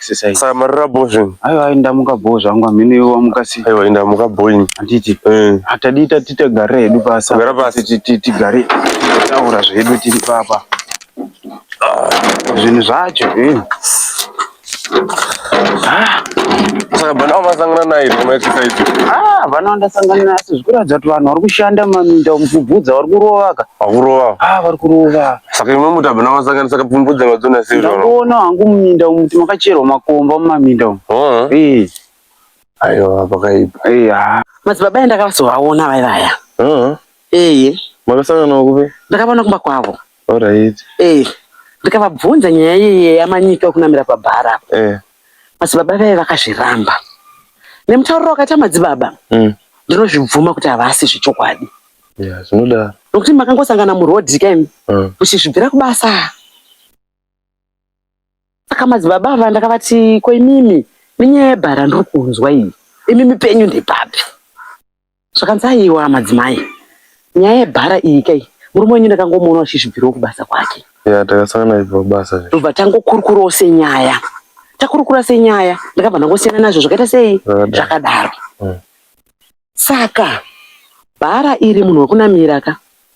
exercise saka marara bho zvinhu aiwa ai ndamuka bho zvangu amhene iwe wamuka sei aiwa ndamuka bho ini handiti eh. hatadii tati tigare hedu pasi gara pasi tigare taura zvedu tiri papa zvinhu zvacho eh. ah. saka bana wamasangana naye kama exercise ah bana wandasangana naye asi zvikuratidza kuti vanhu vari kushanda maminda mubvubvudza vari kurovaka vari kurova ah vari kurova Saka imwe mutaba namasanganisa kapfumbudza madzona sei unono? Ndakuona hangu muminda umu kuti makacherwa makomba mumaminda umu. Oh. Eh. Aiwa pakaipa. Eh. ah. Madzibaba aya ndakavazovaona vai vaya. Oh. Eh. Makasangana kupi? Ndakavaona kumba kwavo. Alright. Eh. Ndikavabvunza nyaya iye yamanyika kunamira pabhara apa. Eh. Madzibaba vaya vakazviramba. Nemutauriro wakaita madzibaba. Mm. Ndinozvibvuma kuti havasi zvechokwadi. Yeah, zvinodaro. Nokuti makangosangana muroad imi mm. muchizvibvira kubasa. Saka madzibaba ava ndakavati ko imimi minyaya yebhara ndiri kunzwa iyi. Imimi penyu ndepapi? Zvakanzi aiwa madzimai. Nyaya yebhara iyi kai murume wenyu ndakangomuona achizvibvirawo kubasa kwake. Yeah, takasangana ibva kubasa. Ndobva tangokurukurawo senyaya. Takurukura senyaya ndakabva ndangosiyana nazvo zvakaita sei? Zvakadaro. Mm. Saka bhara iri munhu wekunamira ka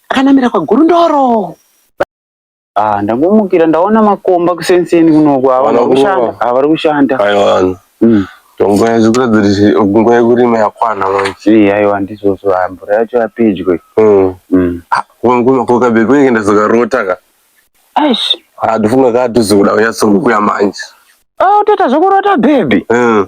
akanamira kwagurundoro. Ah, ndangomukira ndaona makomba kusenseni kunoku havana kushanda havari kushanda aiwana mm. tonguva yazvikuratidza kuti nguva yekurima yakwana manje eh, aiwa ndizvozvo ah, mvura yacho yapedyo mm. mm. ah, kumakokabe kunenge ndazokarota ka aish ah, ndofunga kaa tozikuda kunyatsokukuya manje ah, utoita zvokurota bhebhi mm.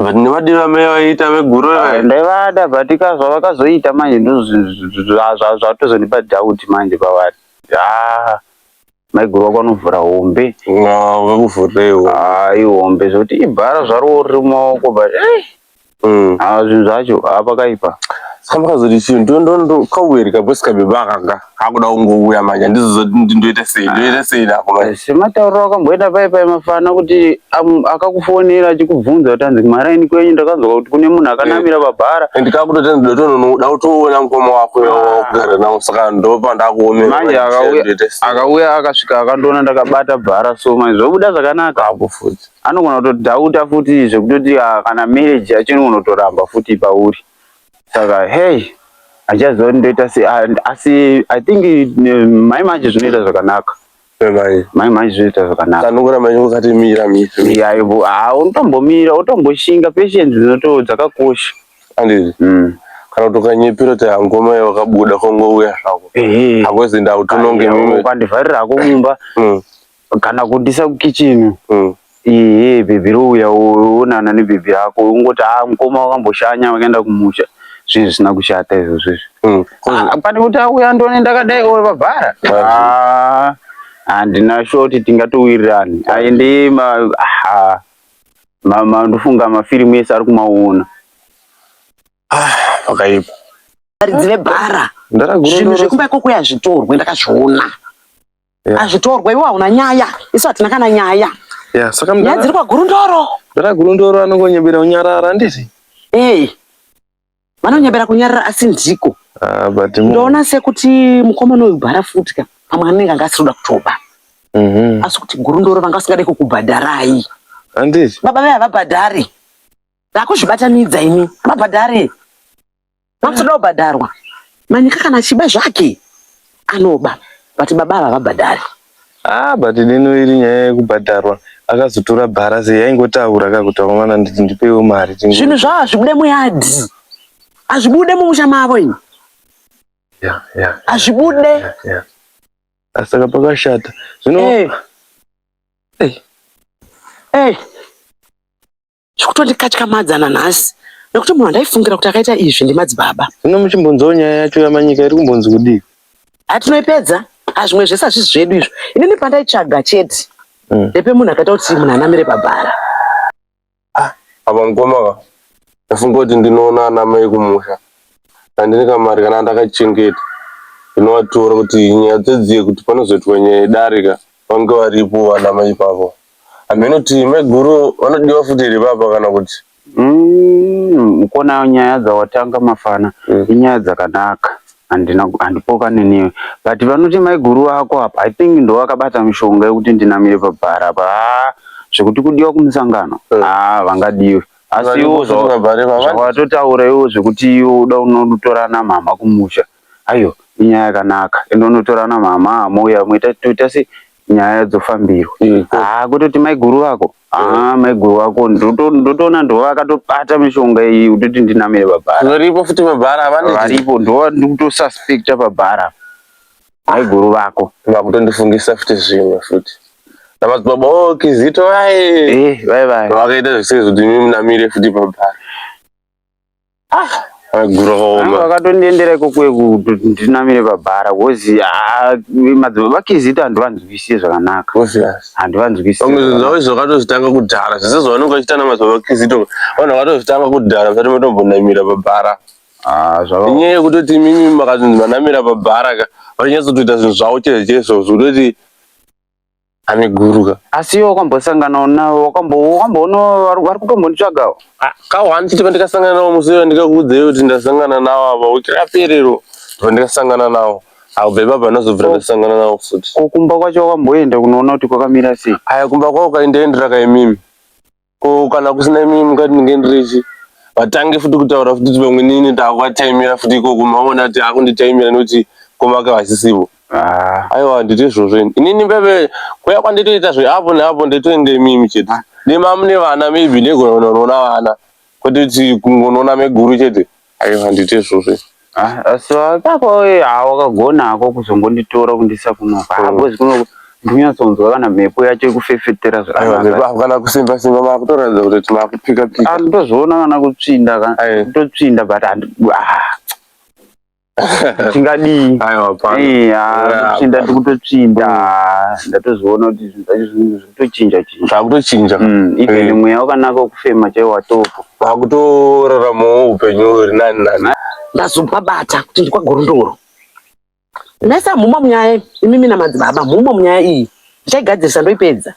But ndivadira mai vaiita veguru Ah, ivai. ndaivada but ka zvavakazoita manje ndozvatozondipa doubt manje pavari ah maiguru wako anovhura hombe Ah, vekuvhurireiwo. ah ihombe zvekuti ibhara zvarowo riri mumaoko but eh Mm. ah zvinhu zvacho ah pakaipa Saka vakazoti chii ndo ndo ndo kauweri kabhosi kabeba akanga. akuda kungouya manje handizozoti kuti ndoita sei ah. ndoita sei nako manje sematauriro akamboita pai pai mafana kuti akakufonera achikubvunza kuti hanzi kumaraini kwenyu ndakanzwa kuti kune munhu akanamira eh. pabhara and kakutoti ndotonoda kutoona mukoma wako wakugara ah. nawo saka ndopa ndakuomera manje akauya akasvika akandoona ndakabata bhara so manje zvobuda zvakanaka apo futi anogona kutodhauta futi zvekutoti ah, kana marriage yacho inogonotoramba futi pauri saka hey achaziva kuti ndoita sei asi i think mai manje zvinoita zvakanaka mai manje zvinoita zvakanaka unotombomira wotomboshinga patience dzinoto dzakakosha mm. kana kuti ukanyepera kuti hangoma yawakabuda kongouya zvako hakwezi ndautononge ukandivharira hako mumba mm. kana kundisa kukichini mm. iye bhebhi rouya onana nebhebhi rako ungoti a ah, mukoma wakamboshanya wakaenda kumusha zvinhu zvisina kushata izvozvo izvi mm. ah, pane kuti auya ndone ndakadai o vabhara ah, handina shoti tingatowirirani aende mandofunga mafirimu ese ari kumaona pakaipa varidzi vebhara zvinhu zvekumba ikoko yazvitorwe ndakazviona yeah. azvitorwa iwe hauna nyaya isu hatina kana nyaya yeah, saka nyaya dziri kwagurundoro mdara gurundoro anongonyebera kunyarara handiti hey. vanonyebera kunyarara asi ndiko ah, but ndoona sekuti mukomana uyu bhara futi ka pamwe anenge anga asiri kuda kutoba mm -hmm. asi kuti gurundoro vanga vasingade kukubhadharai handiti baba vaye havabhadhari ndakuzvibatanidza ini havabhadhari Vanotoda kubhadharwa. Manyika kana achiba zvake anoba but baba ava havabhadhari. Ah, but deno iri nyaya yekubhadharwa akazotora bhara sei yaingotaura ka kuti vamwana nditi ndipewo mari tingo- Zvinhu zvavo hazvibude muyadhi. Hazvibude mumusha mavo ini. Yeah, yeah, Hazvibude. yeah, yeah. Ah, saka pakashata zvino Eh. Eh. Eh. Zviri kutondikatyamadza nanhasi nekuti munhu andaifungira kuti akaita izvi ndimadzibaba. Zvino muchimbunzawo nyaya yacho yaManyika iri kumbonzi kudii? Haa tinoipedza, haa zvimwe zvese hazvisi zvedu izvo. Inini pandaitsvaga chete Mm. ndepemunhu akaita kuti munhu anamire pabhara. Apa mukoma ava ndafunga kuti ndinoona ana mai kumusha handine kamari kana ndakachengeta ndinovatora kuti nyaya dzedziye kuti panozoitwa nyaya yedarika vange varipo vana mai ipavo. Hameno inoti maiguru vanodiwa futi here baba kana kuti Mm, ukona nyaya dzawatanga mafana mm. inyaya dzakanaka handina handipokane newe but vanoti maiguru vako apa i think ndo vakabata mishonga yekuti ndinamire pabhara apa haa zvekuti kudiwa kumusangano mm. haa vangadiwe asi iwo zvawatotaura iwo zvekuti iwo uda unotora namama kumusha ayo inyaya yakanaka ende unotora namama mouya moita toita se nyaya dzofambirwa mm, haa ah, kutoti maiguru vako aa mm. ah, maiguru vako ndotoona ndo vakatobata mishonga iyi kutoti ndinamire pabhara varipo futi pabhara varipo ndo ndikutosuspecta pabhara maiguru vako vakutondifungisa futi zvimwe futi namadzibaba o oh, kizito vaye eh, vakaita zvisiri zvekuti mi munamire futi pabhara Ah, maguro akaoma. Vakatondiendera ikoko kuti ndinamire pabhara because ah, madzimai vakizita handivanzwisise zvakanaka. Handivanzwisise. Pamwe zvinhu zvavo izvo vakatozvitanga kudhara. Zvese zvavanenge vachiita namadzimai vakizita vanhu vakatozvitanga kudhara vasati vatombonamira pabhara. Ah, zvava. Inyaya yekutoti imimi makazonzi manamira pabhara ka vanyatsotoita zvinhu zvavo chaizvo chaizvo zvekutoti ane guruka asi iwe wakambosanganawo navo wakamboona vari kutombonditsvagawo ah, kawo handiti pandikasangana navo musi iwe ndikakuudza iwe kuti ndasangana navo ava wiki raperero pandikasangana navo aubve baba ndazobvira ndasangana navo futi ko kumba kwacho wakamboenda kunoona kuti kwakamira sei aya kumba kwavo kaindaendera kaimimi ko kana kusina imimi mukati ndinge ndirichi vatange futi kutaura futi vamwe nini ndakuvatimira futi ikoko maona kuti akunditimira nekuti komake vasisivo ah. aiwa handiti izvozvo ini inini mbeve kuya kwanditoita zveapo neapo nditoende imimi chete ah. nemamune vana maybe ndegononoona vana kwete kuti kungonoona meguru chete Aiwa handiti izvozvo. Ah, so akako eh, ah, wakagona hako kuzongonditora kundisa kuno ah, because kuno ndinyatsonzwa kana mhepo yacho ikufefetera Aiwa mhepo zvakanaka kana kusimba simba makutoratidza kuti kuti makupika pika. Ah, ndozviona kana kutsvinda ka Aye. kutotsvinda but handi- ah, tingadii Aiwa pano. Eh, ah, Yeah, kutsvinda ndikutotsvinda ah, ndatozoona kuti zvinhu zvacho zvinhu zvirikutochinja chinja Zvakutochinja. Mm, even Eh. mweya wakanaka wekufema chaiwo watopo vakutoraramawo upenyu huri nani nani ndazopabata kuti ndikwagorondoro mese mhuma munyaya imimi namadzibaba mhuma munyaya iyi ndichaigadzirisa ndoipedza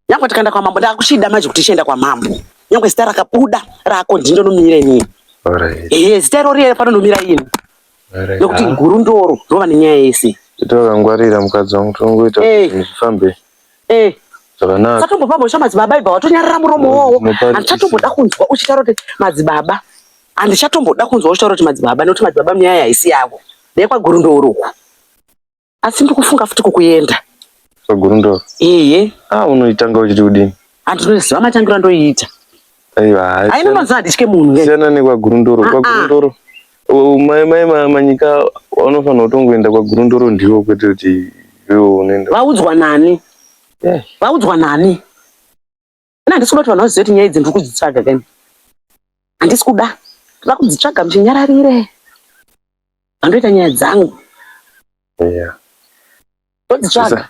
nyange tikaenda kwamambo ndakuchida manje kuti ichienda kwamambo nyange zita rakabuda rako ndindonomira inini ehe zita irori panonomira ini nekuti guru ndoro rova nenyaya yese titavangwarira mukadzi wangu tongoita eh. zvifambe eh. zvakanaka satombopa mhosva madzibaba ibva watonyarara muromo mm, wowo handichatomboda kunzwa uchitaura kuti madzibaba handichatomboda kunzwa uchitaura kuti madzibaba nekuti madzibaba nyaya haisi yavo nekwagurundouruku asi ndikufunga futi kukuenda kwagurundoro ehe ah unoitanga uchiti kudini handinoziva matangiro andoiita aiwa haina mazuva handitye munhu siyana nekwagurundoro kwagurundoro mai mai manyika vanofanira kutongoenda kwagurundoro ndiwo kwete kuti iwo unoenda vaudzwa nani vaudzwa nani ini handisi kuda kuti vanhu vazive kuti nyaya idzi ndiri kudzitsvaga kani handisi kuda ndoda kudzitsvaga muchinyararire vandoita nyaya dzangu ndodzitsvaga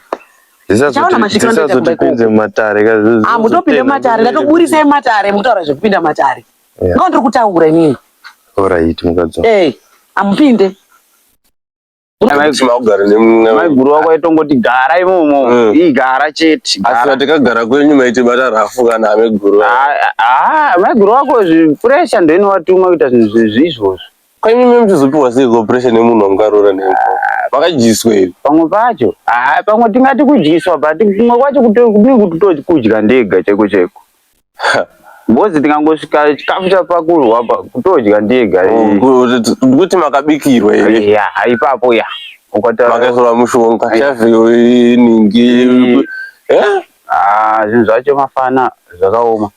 mutopinde mumatare ndatoburisai mumatare mutaura zvekupinda mumatare ngo ndiri kutaura inini amupinde maiguru wako aitongoti gara imomo mm. ii gara chete asi vatikagara kwenyu maitibata rafu kana ameguru maiguru wako zvipuresha ndoinowatuma kuita zvinhu zvezvi izvozvo kwenyu me muchizopiwa seiko puresha nemunhu wangarora ne vakadyiswa iri pamwe pacho pamwe tingati kudyiswa but kumwe kwacho kudii kuti tokudya ndega chaiko chaiko Ngozi tingangosvika chikafu chapakurwa apa kutodya ndiye gari. Oh, Kuti makabikirwa here? Ya, ipapo ya. Ukataura makaiswa mushonga chavhiyo iningi. Eh? Ah, zvinhu zvacho mafana zvakaoma.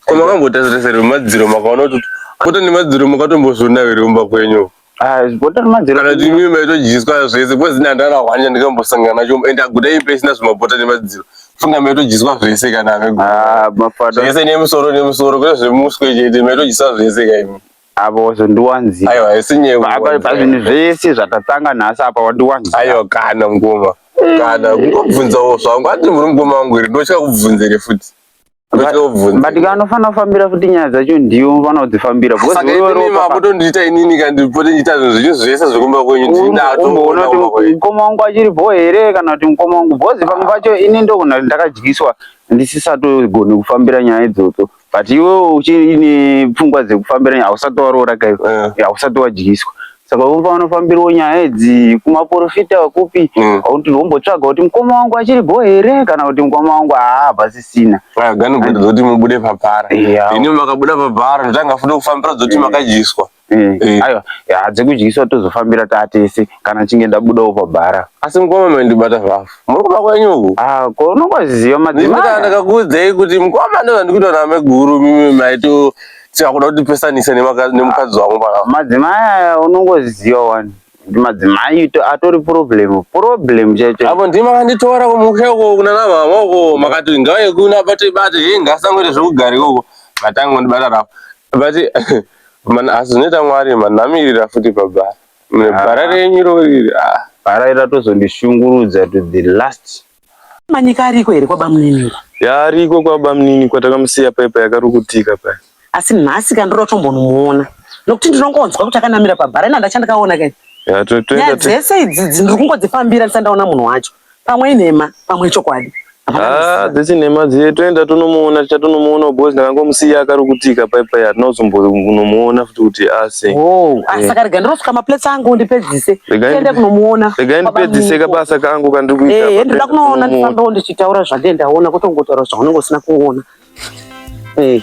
Koma kambotazireserwa madziro makaona kuti kuta nemadziro makatombozvona here kumba kwenyu. Ah, bota remadziro kana kuti mimi maitodyiswa zvese because ini handana hwanya ndikambosangana nacho and aguta imba isina zvemabota nemadziro funga maitodyiswa zvese kana amegona Ah, mafada zvese nemusoro nemusoro kwete zvemuswe chete maitodyisa zvese kaimi apa wazondiwanzira aiwa haisi nyewe Pa- pa- pazvinhu zvese zvatatanga nhasi apa wandiwanzira aiwa kana mukoma kana kungobvunzawo zvangu ati muri mukoma wangu here ndotya kubvunzere futi but anofanira kufambira futi nyaya dzacho ndiyo unofanira kudzifambira makutondiita inini kandipote ndiita zvinhu zvinyu zvese zvekumba kwenyu ndindatomboona kuti mukoma wangu achiripo here kana kuti mukoma wangu bhozi pamwe pacho ini ndogona kuti ndakadyiswa ndisisatogoni kufambira nyaya idzodzo but iwe uchiine pfungwa dzekufambira nyaya hausati waroora kaiwe eh. hausati wadyiswa saka unofana fambirwo nyaya idzi kumaporofita kupi mm. kuti vombotsvaga kuti mukoma wangu achiri go here kana kuti mukoma wangu haa pasisina ah, gani kuti dzoti mubude pabhara ini makabuda pabhara ndotanga futi kufambira dzoti mm. makadyiswa mm. eh. aiwa hadzi kudyiswa tozofambira tatese kana chinge ndabudawo pabhara asi mukoma maindibata vavo muri kuba kwenyu uku ah, ko unongoziva madzimai ndakakuudzei kuti mukoma ndovandikutoona meguru mimi maito chakuda kuti pesanise nemukadzi wangu pa madzimai aya unongoziva wani kuti madzimai atori problem problem chaicho apo ndima kanditora kumusha uko kuna namama uko makati ngauye kuna bate bate hii ngasangoite zvekugara ikoko matango ndibata rapo but man asi zvinoita mwari man namirira futi pabara bara ah. renyu roriri ah. bara iri ratozondishungurudza to the last Manyika ariko here kwabamnini? Yaariko kwabamnini kwatakamusiya paya paya yakarukutika paya. Asi nhasi ka ndoda kutombonomuona nokuti ndinongonzwa kuti akanamira pabhara ina ndachandikaona kai. Nyaya dzese idzidzi ndiri kungodzifambira ndisati ndaona munhu wacho. Pamwe inhema pamwe ichokwadi. Ah, dzese nhema dziye toenda tonomuona tichatonomuona because ndakangomusiya akarukutika paya paya hatina kuzombonomuona futi kuti ndipedzise oh. ah, eh. saka rega ndirosuka maplates angu ndipedzise tiende kunomuona rega ndipedzise kabasa kangu kandiri kuita eh, ndoda kunoona ndifambewo ndichitaura zvandee ndaona kotongotaura zvaunenge usina kuona eh. Hey.